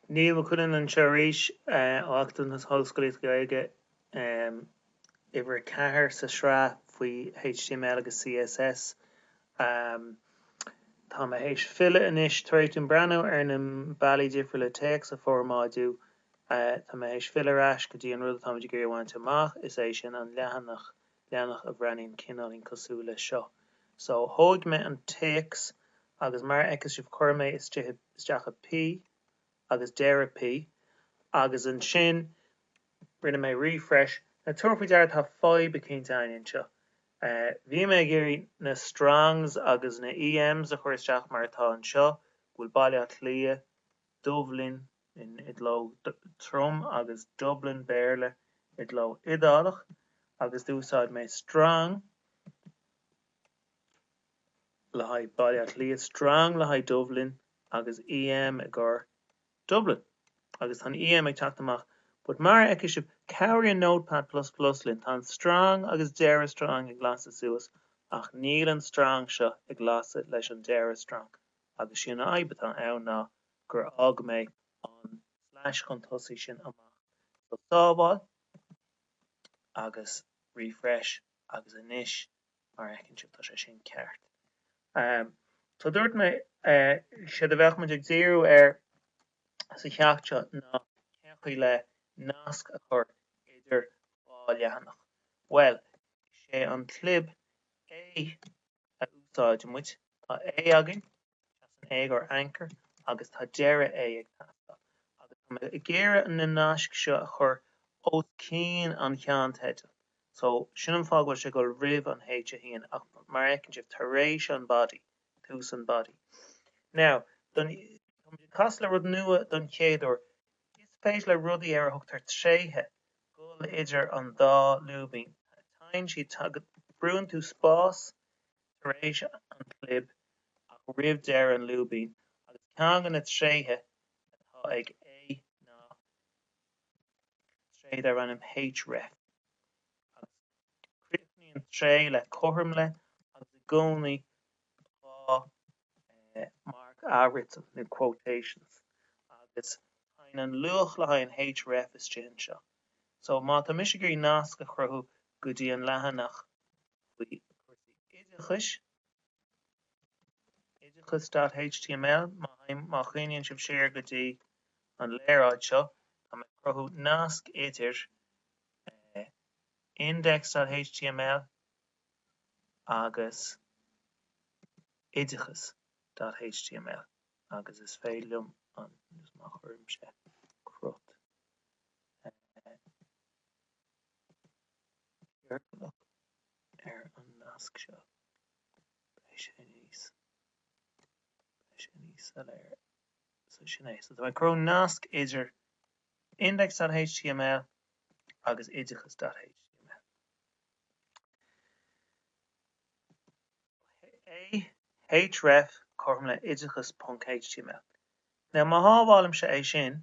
Niall Mac Cuilinn anseo arís ó Acadamh na hOllscolaíochta Gaeilge, uimhir a ceathair sa sraith faoi html agus CSS. Tá mé théis filleadh anois tar éis dom breathnú ar na bealaí difriúla téacs a formáidiú. Tá mé théis filleadh ar ais go dtí an rud atá muid ag iarraidh a bhaint amach, is é sin an leathanach. leathanach a bhreathnaíonn cineáilín cosúil leis seo. So, thóig mé an téacs agus mar a fheiceas sibh chuir mé é isteach i P agus deireadh P agus ansin rinne mé refresh. Now tabhair faoi deara tá fadhb eicínt ann anseo. Bhí mé ag iarraidh na strongs agus na EMs a chur isteach mar atá anseo, go bhfuil Baile Átha Cliath, Dubhlinn i gcló trom agus Dublin, Béarla, i gcló iodálach, agus d'úsáid mé Strong le haghaidh Baile Átha Cliath, Strong le haghaidh Dubhlinn, agus EM i gcomhair Dublin. Agus tá an EM ag teacht amach. But mar a fheiceas sibh, cabhraíonn Notepad plus plus linn, tá an Strong agus deireadh Strong ag lasadh suas, ach níl an Strong seo ag lasadh leis an deireadh Strong. agus sé an fhadhb atá ann ná gur fhág mé an slash chun tosaigh sin amach. So sábháil agus refresh agus anois mar a fheiceann sibh tá sé sin ceart. So dúirt mé séard a bheadh muid ag díriú air sa cheacht seo ná cén chaoi le nasc a chur idir dhá leathanach. Bhuel is é an clib A a úsáid muid. Tá A againn, seasann A i gcomhair anchor, agus tá deireadh A ag teastáil. Agus tá mé ag iarraidh na naisc seo a chur os cionn an cheannteidil. So, sin an fáth go bhfuil sé ag dul roimh an H 1, ach mar a fheiceann sibh, tar éis an body, tús an body. Now, tá muid ag casadh le rud nua den chéad uair. Is féidir le rudaí ar a thugtar tréithe a ghoil idir an dá lúibín. Téann siad, brúnn tú spás tar éis an chlib ach roimh deireadh an lúibín agus ceann de na tréithe atá ag A ná tréith darb ainm href agus críochnaíonn tréith le cothrom le agus i gcónaí dhá mharc athfhriotail nó quotations agus téann an luach le haghaidh an href istigh anseo so má tá mise ag iarraidh nasc a chruthú go dtí an leathanach faoi chúrsaí oideachais oideachas dot html má théim, má chuimhníonn sibh siar go dtí an léaráid seo tá mé ag cruthú nasc idir eh index dot html agus oideachas dot html agus is féidir liom an má chuirimse cruth ciorclach ar an nasc seo beidh sé níos beidh sé níos soiléire so sin é so tá mé ag cruthú nasc idir index dot html agus oideachas dot html. A href cothrom le oideachas ponc html. Now má shábhálaimse é sin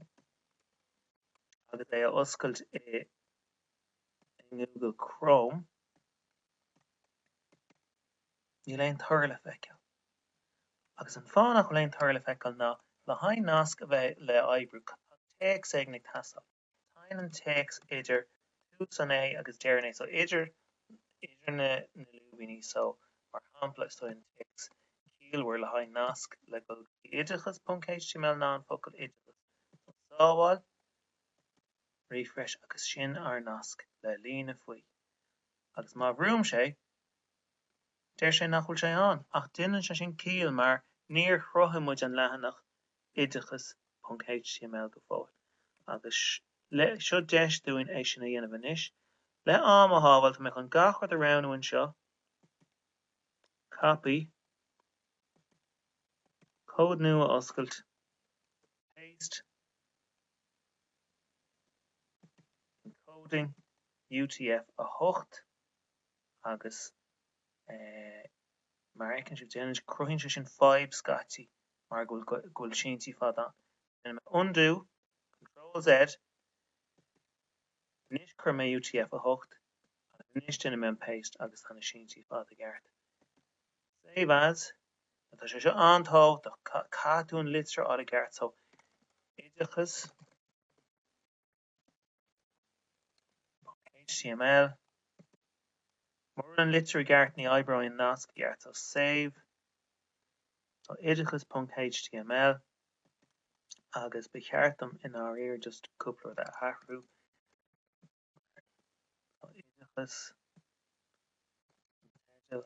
agus é a oscailt i nGoogle Chrome, níl aon toradh le feiceáil. Agus an fáth nach bhfuil aon toradh le feiceáil ná, le haghaidh nasc a bheith le oibriú, tá téacs éigin ag teastáil. Téann an téacs idir tús an A agus deireadh an A, so idir na lúibíní, so mar shampla is dóigh an téacs ciallmhar le haghaidh nasc le goil go oideachas ponc html ná an focal oideachas so sábháil, refresh agus sin ár nasc le líne faoi agus má bhrúimse é, deir sé nach bhfuil sé ann, ach déanann sé sin ciall mar níor chruthaigh muid an leathanach oideachas.html go fóill agus seo deis dúinn é sin a dhéanamh anois. Le am a shábháil, tá mé chun gach rud a roghnú anseo, copy, comhad nua a oscailt, paste, encoding, UTF-8, agus mar a fheiceann sibh, déanann, cruthaíonn sé sin fadhb scaití. mar go bhfuil síntí fada ann. Rinne mé undo, control Z, anois chuir mé UTF-8 isteach agus anois déanfaidh mé an paste agus tá na síntí fada i gceart. Save as, Now tá sé seo an-tábhachtach, caithfidh tú an litir a fháil i gceart, so, oideachas, html Mura bhfuil an litir i gceart ní oibreoidh an nasc i gceart. So save. So oideachas ponc html agus ba cheart dom i ndáiríre just cúpla rud a athrú so oideachas an teideal.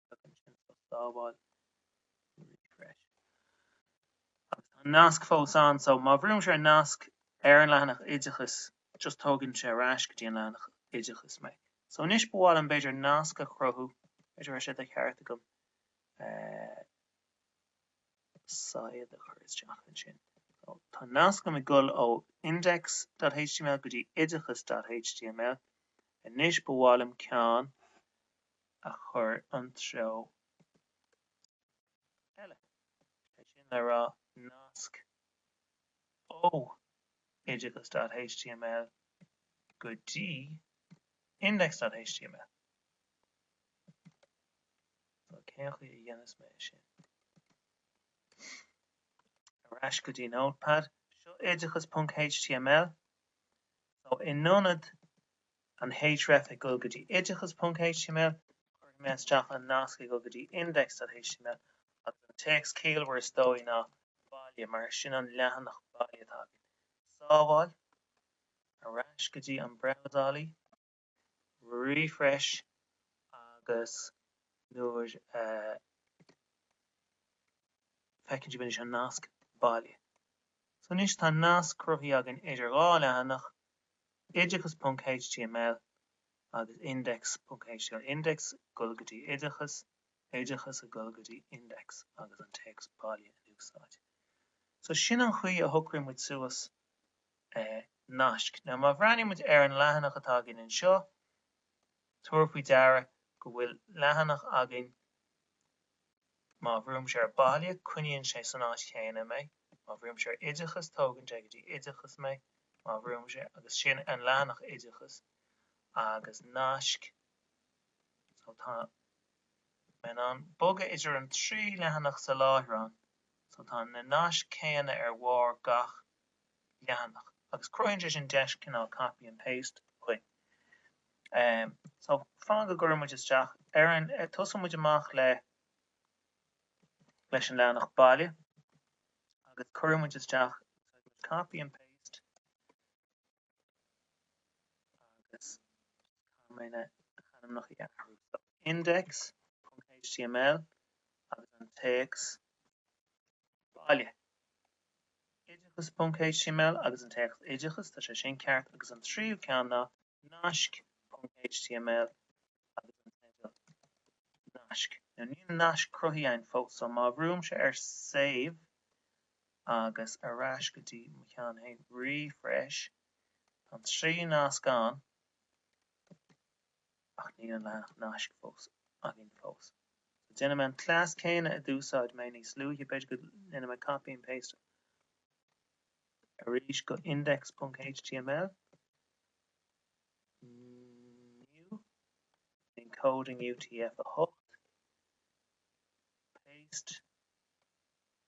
beag ansin so sábháil refresh. Agus tá an nasc fós ann so má bhrúimse an nasc ar an leathanach oideachais just tógann sé ar ais go dtí an leathanach oideachais mé. So anois ba mhaith liom b'fhéidir nasc a chruthú, b'fhéidir raibh sé de cheart agam saighead a chur isteach ansin. So tá nasc agam ag goil ó index.html go dtí oideachas.html. Anois ba mhaith liom ceann a chur an treo eile, sé sin le rá, nasc ó oideachas.html go dtí index.html. So, cén chaoi a dhéanfas mé é sin? Ar ais go dtí Notepad, seo oideachas.html, so in ionad an href ag dul go dtí oideachas.html cuirfidh mé isteach an nasc ag dul go dtí index.html agus an téacs ciallmhar is dóigh ná baile mar sin an leathanach baile atá againn. sábháil, ar ais go dtí an brabhsálaí, refresh agus now feiceann sibh anois an nasc baile so anois tá nasc cruthaithe againn idir dhá leathanach Oideachas ponc html agus Index ponc html Index ag dul go dtí Oideachas Oideachas a dhul go dtí Index agus an téacs baile in úsáid. So sin an chaoi a shocraíonn muid suas naisc. Now má bhreathnaíonn muid ar an leathanach atá againn anseo, tabhair faoi deara go bhfuil leathanach againn, Má bhrúimse ar baile, coinníonn sé san áit chéanna mé. Má bhrúimse ar oideachas, tógann sé go dtí oideachas mé. Má bhrúimse, agus sin an leathanach oideachas agus naisc, so tá mé in ann bogadh idir an trí leathanach sa láithreán, so tá na naisc céanna ar bharr gach leathanach agus cruthaíonn sé sin deis cineál copy and paste dhúinn. So, fan go gcuirfidh muid isteach ar an, tosaíonn muid amach le, leis an leathanach baile agus cuireann muid isteach, úsáideann muid copy and paste, agus caithfidh mé na hainmneacha a athrú, so, index, html agus an téacs baile, oideachas ponc html agus an téacs oideachas, tá sé sin ceart, agus an tríú ceann ná naisc ponc html agus an teideal naisc, now níl naisc cruthaithe agam fós, so má bhrúimse ar save, agus ar ais go dtí an ceann a haon, refresh, tá an trí nasc ann ach níl an leathanach naisc fós againn fós so déanfaidh mé an cleas céanna a d'úsáid mé níos luaithe, b'fhéidir go ndéanfaidh mé copy and paste arís go index.html, new, encoding UTF-8, paste.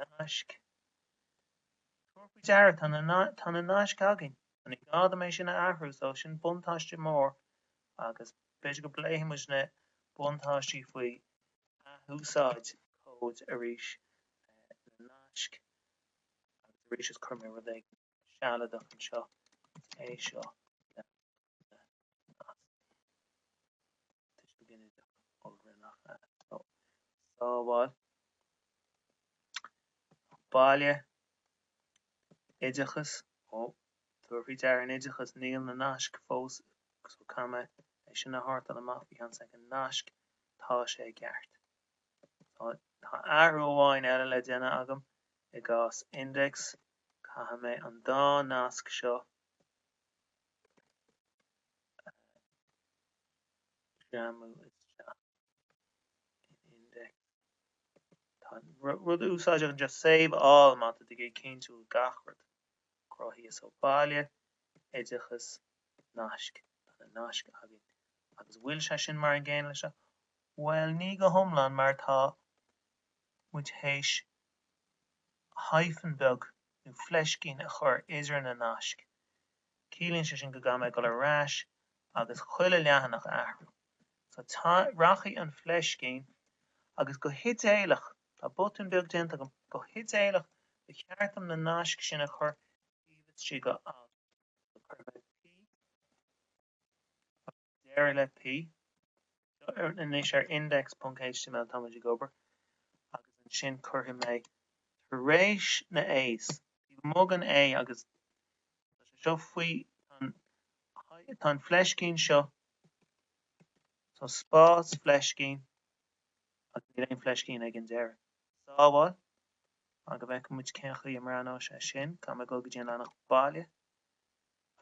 Naisc. Tabhair faoi deara, tá na naisc againn, so ní gá dom é sin a athrú, so sin buntáiste mór agus b'fhéidir go bpléifidh muid na buntáistí faoi athúsáid cóid arís le naisc agus arís is cuirfidh mé rud éigin sealadach anseo, é seo. Baile oideachais Ó, tabhair faoi deara in oideachas, níl na naisc fós so caithfidh mé sin a shórtáil amach. Bhí seans ag an nasc, tá sé i gceart. Tá, tá athrú amháin eile le déanamh agam i gcás index, caithfidh mé an dá nasc seo, a jamáil isteach in index tá rud úsáideach anseo save all má tá tú ag cinntiú gach rud cruthaithe, so baile, oideachas, naisc, tá na naisc againn agus bhfuil sé sin mar an gcéanna leis seo? bhuel ní go hiomlán mar tá muid théis hyphen beag nó fleiscín a chur idir na naisc Ciallaíonn sé sin go gcaithfidh mé a dhul ar ais agus chuile leathanach a athrú. So, tá, rachaidh an fleiscín agus go hidéalach, tá botún beag déanta, go hidéalach ba cheart dom na naisc sin a chur taobh istigh de alt. So, cuirfidh mé P agus. deireadh le P. Anois ar index.html Tá muid ag obair, agus ansin cuirfidh mé tar éis na A's. I ndiaidh an A agus é seo faoi Tá an fleiscín seo, so spás, fleiscín, agus níl aon fleiscín ag an deireadh. Sábháil, Go bhfeicfidh muid cén chaoi a mbreathnóidh sé sin, caithfidh mé dul go dtí an leathanach baile,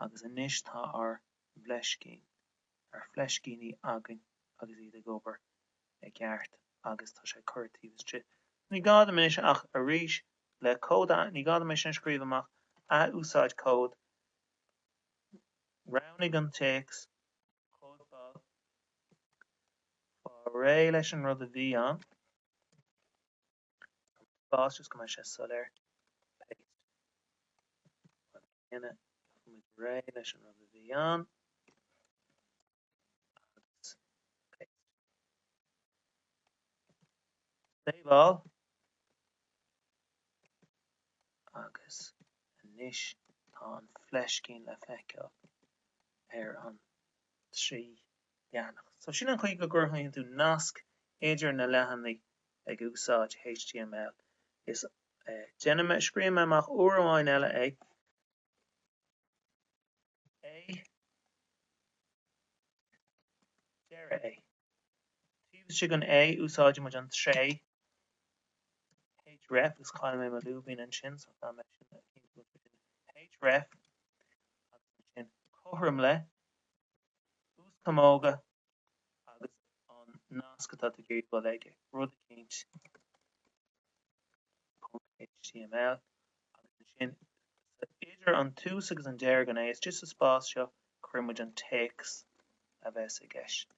agus anois tá ár. bhfleiscín ár bhfleiscíní againn agus iad ag obair i gceart agus tá sé curtha taobh istigh. Ní gá dom anois ach arís le cód, ní gá dom é sin a scríobh amach, athúsáid cód, roghnaigh an téacs, cóipeáil, faigh réidh leis an rud a bhí ann. spás just go mbeidh sé soiléir. Paste. Réidh leis an rud a bhí ann. Save all. Agus anois tá an fleiscín le feiceáil ar an trí leathanach. So sin an chaoi go gcruthaíonn tú nasc idir na leathanaigh ag úsáid html. Is déanfaidh mé. Scríobhfaidh mé amach uair amháin eile é. A deireadh é. Taobh istigh den A úsáid muid an tréith href is chaill mé mo lúibín ansin so caithfidh mé sin a chinntiú go bhfuil sé sin. href agus ansin cothrom le. uaschamóga agus an nasc atá tú ag iarraidh dul chuige, rud eicínt html agus ansin sa idir an tús agus an deireadh den A, is just sa spás seo, cuireann muid an téacs a bheas i gceist,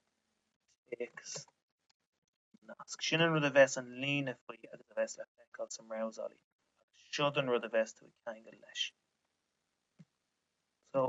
téacs an nasc. Sin an rud a bheas an líne faoi agus a bheas le feiceáil sa mbrabhsálaí agus seod an rud a bheas tú ag ceangal leis. So.